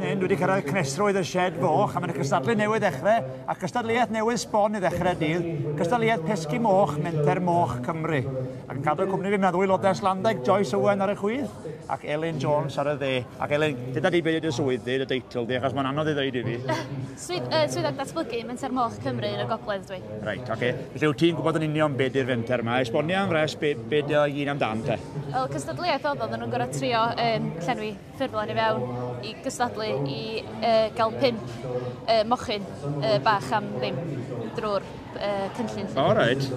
hyn, dwi wedi cyrraedd cnesrwydd y shed foch, a mae'n cystadlu newydd ddechrau, a cystadleuaeth newydd sbon i ddechrau dydd, cystadleuaeth pesgi moch, menter moch Cymru. Ac yn cadw cwmni fi, mae'n ddwy lodes Landaig, Joyce Owen ar y chwydd, ac Elin Jones ar y dde. Ac Elin, dyda di beth ydy'r swydd di, y deitl di, achos mae'n anodd i ddweud i fi. Swydd, uh, Swyddog Datblygu Menter Moch Cymru yn y Gogledd dwi. Reit, oce. Felly wyt ti'n gwybod yn union beth yw'r fenter yma? Esbonia yn fres beth be dy i gyd amdan te? Wel, cystadleuaeth oedd oedden nhw'n gorau trio um, llenwi ffurflen i fewn i gystadlu i uh, gael pimp uh, mochyn uh, bach am ddim drwy'r uh, cynllun. O, reit.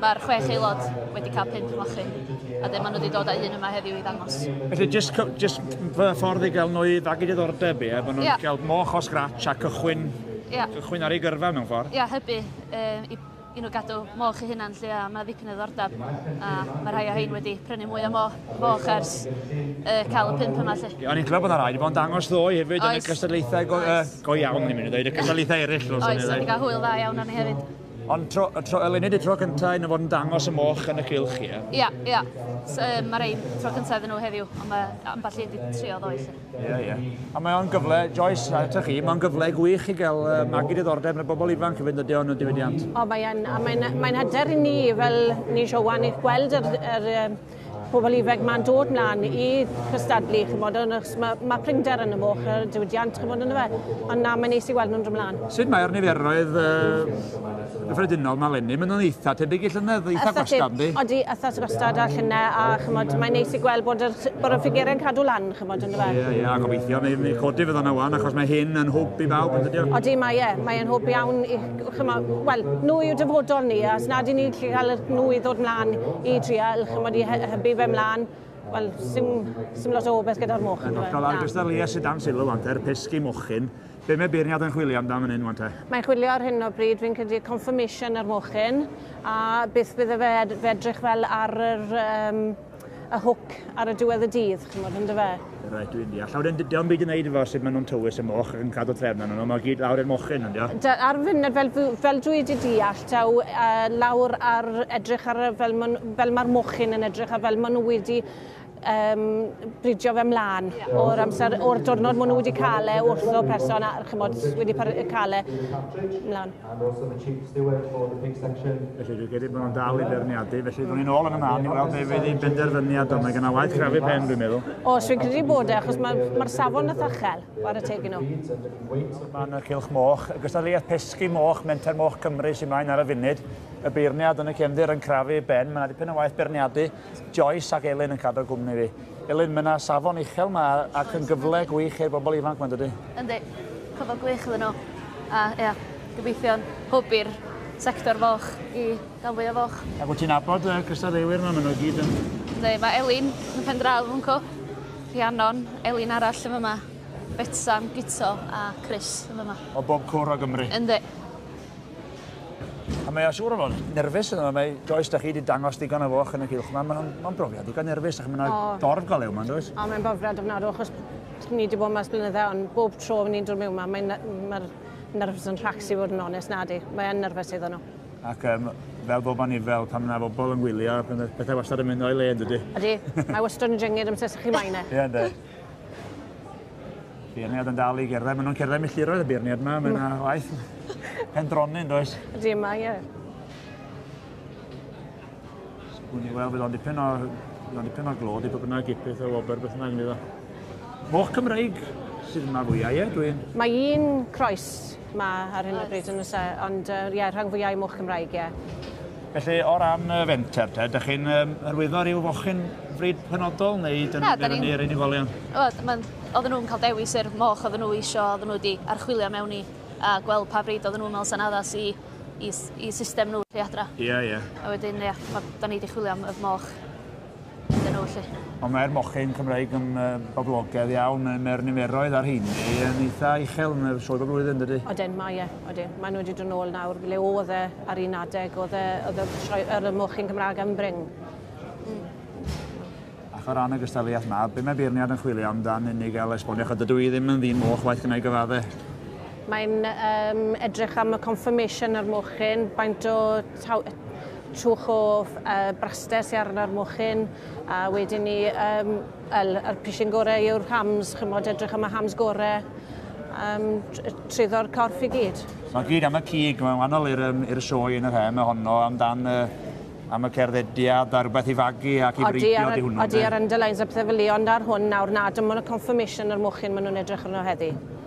Mae'r chwech aelod wedi cael pump mochyn, a wedyn maen nhw wedi dod â un yma heddiw i ddangos. Felly, jyst cy- jyst fy ffordd i gael nhw i fagu diddordeb, ie? Bod nhw'n Ie. cael moch o scratch a cychwyn, Ie. cychwyn ar ei gyrfa mewn ffordd. Ia, hybu um, i, i nhw gadw moch eu hunan lle a mae ddipyn o ddordab a mae rhai o hein wedi prynu mwy o mo, moch ers uh, cael y pump yma lle. Ie, O'n i'n clywed bod yna rai wedi bod yn dangos ddoe hefyd yn y Oes. cystadlaethau go, uh, Oes. go iawn, ni'n mynd i ddweud, y cystadlaethau eraill. Oes, o'n i'n cael hwyl dda iawn o'n i hefyd. Ond tro, tro, eleni di tro cyntaf yn fod yn dangos y moch yn y cylch, ie? Ia, ia. So, um, mae rei tro cyntaf iddyn nhw heddiw, ond mae ambell un wedi trio ddoe. Ia, ia. A mae o'n gyfle, Joyce, a eto chi, mae'n gyfle gwych i gael uh, magu diddordeb yn y bobl ifanc i fynd ydi o'n y diwydiant. O, mae'n mae mae hyder i ni fel ni eisiau wan eich gweld yr, yr, pobl ifanc ma'n dod mlaen i cystadlu ch'mod yn achos ma' ma' prinder yn y moch a'r diwydiant ch'mod yndyfe? Ond na mae'n neis i weld nhw'n dod mlaen. Sut mae'r niferoedd yy gyffredinol 'ma leni? Maen nhw'n eitha' tebyg i llynedd, eitha' gwastad yndi? Odi eitha' gwastad a llynedd a ch'mod mae'n neis i gweld bod yr bod y ffigurau'n cadw lan ch'mod yndyfe? Ie ie a gobeithio mi mi codi fe fan'na ŵan achos mae hyn yn hwb i bawb yndydi o? Odi mae e mae e'n hwb iawn i ch'mo', wel, nhw yw dyfodol ni, a os nad i ni'n gallu cael nhw i ddod mlaen i dreial, ch'mod, i hybu fe mlaen, wel, sim, sim lot o obaith gyda'r moch. Yn hollol, a'r gystadleuaeth sydd dan sylw wan te, yr pesgi mochyn. Be mae beirniad yn chwilio amdano fan hyn wan te? Mae'n chwilio ar hyn o bryd, fi'n credu, confirmation ar mochyn, a beth bydde fe, fe edrych fel ar yr, um, a hwc ar y diwedd y dydd, chymod, yn dyfe? Reit, dwi'n deall. Llaw, wedyn, dio'n byd i wneud efo sut maen nhw'n tywys y moch ac yn cadw trefn arnyn nhw, mae gyd lawr i'r mochyn, yndio? Da, ar y funud, fel, fel dwi wedi deall, daw uh, lawr ar edrych ar fel, man, fel mae'r mochyn yn edrych a fel maen nhw wedi um, bridio fe mlaen yeah. o'r amser, o'r diwrnod maen nhw wedi cael e wrth o person a chymod wedi cael e mlaen. And also the Chief Steward for the Pig Section. Felly dwi'n credu bod nhw'n dal i berniadu, felly dwi'n ni'n ôl yn y man i weld beth fydd ei benderfyniad o. Mae gen i waith crafu pen, dwi'n meddwl. O, dwi'n credu bod e, achos mae'r ma safon eitha chel ar y tegin nhw. Mae yna cilch moch, y gystadleuaeth pesgi moch, menter moch Cymru sy'n maen ar y funud. Y beirniad yn y cefndir yn crafu ben, mae yna dipyn o waith berniadu. Joyce ac Elin yn cadw cwmni fi. Elin, mae yna safon uchel yma ac yn gyfle gwych i'r bobl ifanc mae'n dydy? Yndi, cyfle gwych iddyn nhw. A ia, gobeithio'n hwb i'r sector foch i gael fwy o foch. Ac wyt ti'n nabod y cystadleuwyr yma? Maen nhw i gyd yn... Yndi, mae Elin yn pen draw yn co. Rhiannon, Elin arall yn fyma, Betsan, Guto a Chris yn fyma. O bob cwr o Gymru? Yndi. A mae o siŵr o fod nerfus yna, mae Joyce, da chi wedi dangos digon o foch yn y cylch yma, mae'n ma brofiad digon nerfus, ac mae'n oh. dorf golew yma, does? O, mae'n brofiad ofnadw, achos ni wedi bod yma ers blynydde, ond bob tro ni'n dod mewn yma, mae'n ma nerfus yn rhacsi fod yn onest, na di, mae'n nerfus iddyn nhw. Ac um, fel bob man fel pan yna bobl yn gwylio, pethau wastad yn mynd o'i le, ydy? Ydy, mae wastad yn jyngyd amser sy'ch chi maen e. Ie, ynddo. Beirniad yn dal i gerdded. Maen nhw'n cerdded milltiroedd y beirniad yma. Mae yna waith pendronyn, does? Ydy yma, ie. Sgwn i weld, bydd o'n dipyn o, bydd o'n dipyn o glod i bod yna gipydd o wobr beth yna gynnydd o. Moch Cymreig sydd yma fwyau, ie? Dwi'n... Mae un croes Ma ar hyn o bryd yn oes e? Ond yy ie rhan fwya i moch Cymraeg ie. Felly o ran y fenter te dych chi'n yym hyrwyddo ryw fochyn fryd penodol neu dyn ni'n dynnu i'r unigolion? Wel ma'n odden nw'n ca'l dewis yr moch odden nhw isio odden nhw wedi archwilio mewn i a gweld pa fryd odden nhw'n me'wl sa'n addas i i i system nhw i adra. Ia ia. A wedyn ia ma' 'dan ni 'di chwilio am y moch iddyn nhw felly. Ond mae'r mochyn Cymraeg yn boblogedd iawn, mae'r niferoedd ar hyn yn eitha uchel yn yr sioed o flwyddyn, dydy? Oedden, mae e, oedden. Mae nhw wedi dod nôl nawr, le oedd e ar un adeg, oedd e, oedd y, yr y mochyn Cymraeg yn bring. Mm. Ac o ran y gystadleuaeth yma, be mae beirniad yn chwilio amdan unig gael esbonio, chyd dydw i ddim yn ddyn moch waith gynnau gyfadde. Mae'n um, edrych am y confirmation ar mochyn, baint o Trwch o braster sy arno'r mochyn a wedyn ni um, el, yr pishin gorau yw'r hams, chymod edrych am y hams gorau um, truddo'r corff i gyd. Mae gyd am y cig, mae'n wahanol i'r um, sioe yn yr hen, mae honno amdan uh, am y cerddediad a rhywbeth i fagu ac i breidio di hwnnw. Odi ar underlines a pethau fel ond ar hwn nawr nad ymwneud y confirmation yr mochyn maen nhw'n edrych arno heddi.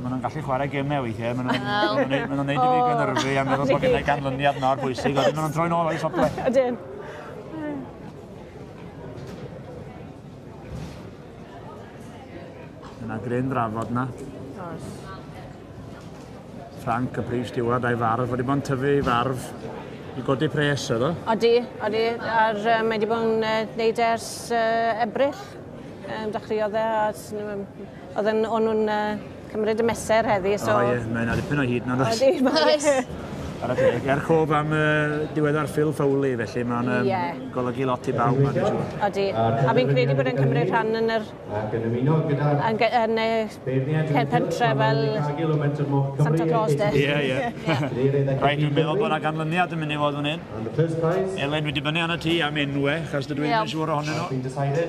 Maen nhw'n gallu chwarae gemau weithiau. Maen nhw'n Wel. maen nhw'n maen nhw'n neud i fi O. gynyrfu a meddwl bod gennau ganlyniad mor bwysig. Wedyn maen nhw'n troi'n ôl o'i safle. Ydyn. Mae yna gryn drafod yna. Oes. Frank, y prif stiward, a'i farf. Wedi bod yn tyfu ei farf i godi pres, oedd o? Odi, odi. A'r, yy, mae wedi bod yn yy, neud e ers yy, Ebrill. Yym, dechreuodd e a s- n- yym, Oedden o'n nhw'n uh, cymryd y meser heddi, so... O ie, mae'n adipyn o hyd na dos. Oeddi, mae... Ar y teg, er cof am uh, diweddar Phil Foley, felly mae'n um, yeah. golygu lot i bawb, mae'n siŵr. Odi, a fi'n credu bod yn cymryd rhan yn yr... Ac yn ymuno gyda... Yn, yn y pentre fel... Santa Claus, de. Ie, ie. Rhaid dwi'n meddwl bod yna ganlyniad yn mynd i fod yn hyn. Elen, dwi wedi bynu anna ti am enwe, chas dydw i'n siŵr ohonyn nhw.